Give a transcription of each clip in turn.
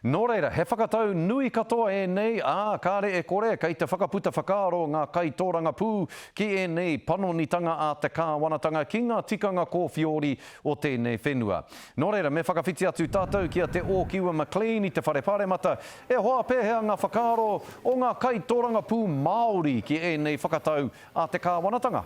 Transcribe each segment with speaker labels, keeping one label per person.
Speaker 1: Nō reira, he whakatau nui katoa ēnei, ā, kāre e kore kei te whakaputa whakaaro ngā kaitōrangapū ki ēnei panonitanga a te Kāwanatanga ki ngā tikanga kōwhiori o tēnei whenua. Nō reira, me whakawhiti atu tātou ki a Te Ōkiwa McLean i te Whare Pāremata, e hoa pēhea ngā whakaaro o ngā kaitōrangapū Māori ki ēnei whakatau a te Kāwanatanga?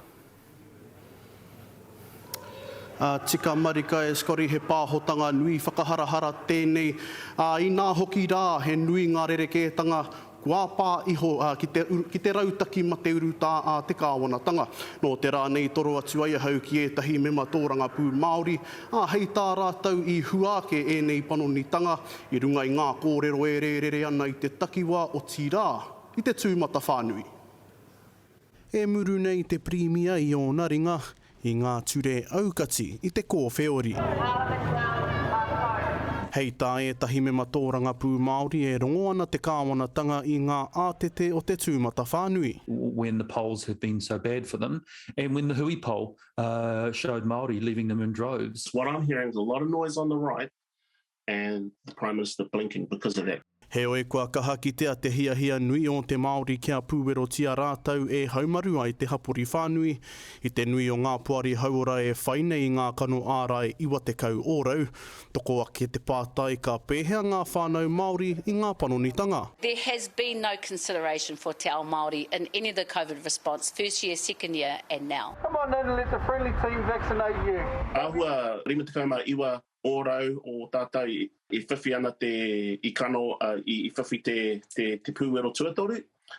Speaker 2: Ā, tika marika e Scotty he pāhotanga nui whakaharahara tēnei, ā, inā hoki rā he nui ngā rerekētanga kua pā iho ki te, ki te rautaki mate urutā a te kāwanatanga. Nō te rā nei toro atu ai ahau ki ētahi mema tōrangapū Māori, ā, hei tā rātou i hua ake ēnei panonitanga i runga i ngā kōrero e rērere ana i te takiwā otirā i te tūmatawhānui. E muru nei te Pirimia i ōna ringa i ngā ture aukati i te kōwheori. Hei tā ētahi mema tōrangapū Māori e rongo ana te kāwanatanga i ngā ātete o te tūmatawhānui. when the polls
Speaker 3: have been so bad for them and when the hui poll showed Māori leaving them in droves. What I'm hearing is a lot
Speaker 4: of noise on the right and the Prime Minister blinking because of that. Heoi kua kaha
Speaker 2: kitea te hiahia nui ō te Māori kia pūwerotia rātou e haumaru ai te hapori whānui. I te nui o ngā poari hauora e whai nei i ngā kano ārai 90 ōrau, toko ake te pātai ka pēhea ngā whānau Māori i ngā panonitanga. There has been
Speaker 5: no consideration for te ao Māori in any of the Covid response, first year, second year and now. Come on in and let the
Speaker 6: friendly team vaccinate
Speaker 4: you. Āhua 59 ōrau o tātou i whiwhi ana te, i kano, i whiwhi te, te, te pūwero tuatoru,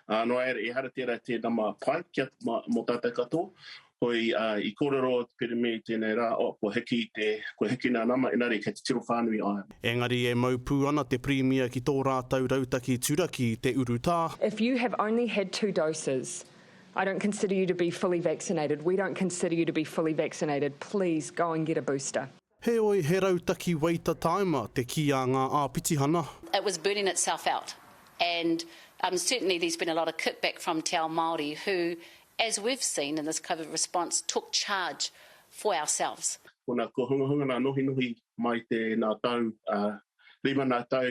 Speaker 4: ā, noa iere, ehara tērā te nama pai kia, mā, mō tātou katoa. Hoi, ā, i kōrero te Pirēmia i tēnei rā, oh, kua hiki te, kua hiki nā nama, engari kei te tiro whānui ai. Engari e mau pū
Speaker 2: ana te Pirēmia ki tō rātou rautaki turaki i te urutā. If you have only
Speaker 7: had two doses, I don't consider you to be fully vaccinated, we don't consider you to be fully vaccinated, please go and get a booster. Heoi, he
Speaker 2: rautaki waita tāima te kī a ngā āpitihana. It was burning
Speaker 5: itself out and um certainly there's been a lot of kick back from Te Ao Māori who, as we've seen in this Covid response, took charge for ourselves. Kona ko Hungahunga
Speaker 4: nā nohinohi mai tēnā tau, ā, rima nā tau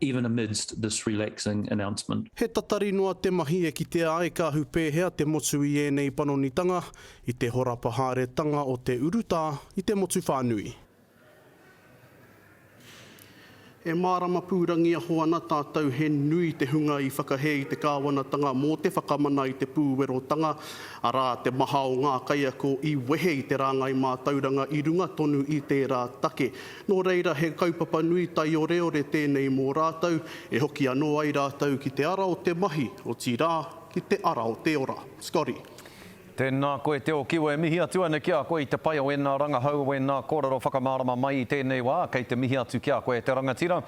Speaker 3: even amidst this relaxing announcement. He tatari noa te
Speaker 2: mahi e kitea ai ka ahu pēhea te motu i ēnei panonitanga, i te horapa haeretanga o te urutā i te motu whānui. E mārama pūrangiaho ana tātou he nui te hunga i whakahē i te kāwanatanga mō te whakamana i te pūwerotanga, arā, te maha o ngā kaiako i wehe i te rāngai mātauranga i runga tonu i tērā take. Nō reira, he kaupapa nui taioreore tēnei mō rātou, e hoki anō ai rātou ki te ara o te mahi, otirā, ki te ara o te ora. Scotty. Tēnā
Speaker 1: koe Te Okiwa e mihi atu ana ki a koe i te pai o ēnā rangahau, o ēnā kōrero whakamārama mai i tēnei wā, kei te mihi atu ki a koe te rangatira.